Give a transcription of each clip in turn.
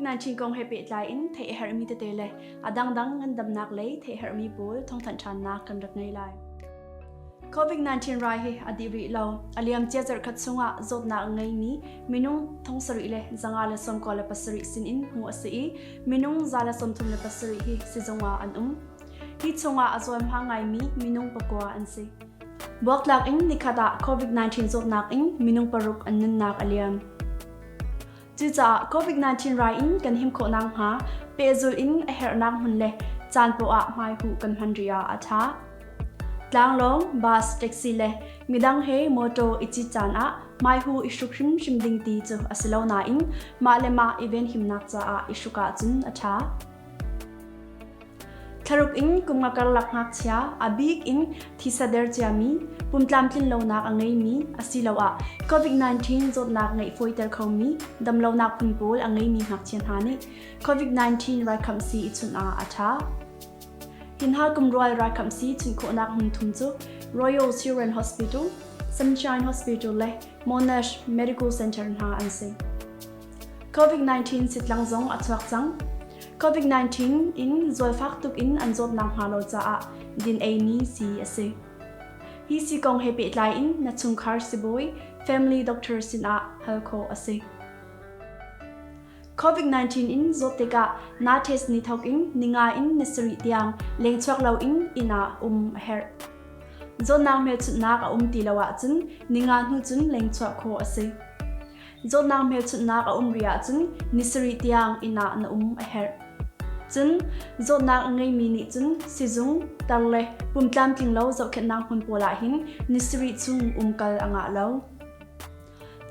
COVID-19 kong he pehtlai in theih a herhmi tete le a dangdang ngandamnak lei theih herhmi pawl thawngthanh ṭhannak kan rak ngei lai. COVID-19 rai hi a dih rih lo. A liam cia zarhkhat chungah zawtnak a ngeimi minung thong sarih le zanga le sawmkua le pasarih sinin hmuh a si i minung za le sawmthum le pasarih hi sizung ah an um. Hi chungah a cawnhma ngaimi minung pakua an si. Buaktlak in nikhat ah COVID-19 zawtnak in minung paruk an nunnak a liam. Cucaah COVID-19 rai in kan him khawh nak hnga pehzul in a herhnak hmun le caan poah hmai hu kan hman ria a tha. Tlanglong, bus, taxi le midang he motor i chi caan ah mai hu i hruk hrim hrim ding ti cu asilo na in ma le ma event himnak caah i hruka cun a tha. Thlaruk in kumnga karlak ngakchia, a bik in thisa der ciami, pumtlam tlinlonak a ngeimi asiloah COVID-19 zawtnak ngeih fawiter khomi damlonak phun pawl a ngeimi ngakchia hna nih COVID-19 raikhamsi i chunh ah a ṭha. Tinhal kumrual raikhamsi chunh khawhnak hmun thum cu Royal Children Hospital, Sunshine Hospital le Monash Medical Center hna an si. COVID-19 sitlang zong a chuak cang. COVID-19 in zualfak tuk in an zawt nakhnga lo caah din-ei ni si a si. Hi si kong he pehtlai in na chungkhar sibawi, family doctor sinah hal khawh a si. COVID-19 in zawt tikah na test ni thawk in ninga in na sarih tiang lengchuak lo in ina um a herh. Zawtnak hmelchunhnak a um ti lo ahcun ninga hnu cun lengchuah khawh a si. Zawtnak hmelchunhnak a um ri ahcun ni sarih tiang inn ah na um a herh. Cun zawtnak a ngeimi nih cun sizung, tar le pum tlamtlinglo zohkhenhnak hmun pawl ahhin ni sarih chung umkal a ngah lo.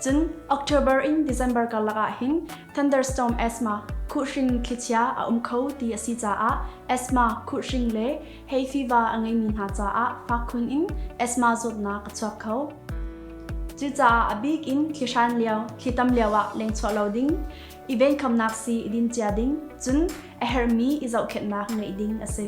Cun October in December karlak ahhin thunderstorm asthma khuhhring thlichia a um kho ti a si caah asthma khuhhring le Hei tiva a ngeimi hna caah fakkhun in asthma zawtnak a chuak kho. Cucaah a bik in thlihran lio, thlitam lio ah lengchuah lo ding, i venkhawmnak sii i din cia ding, cun a herhmi i zohkhenhnak ngeih ding a si.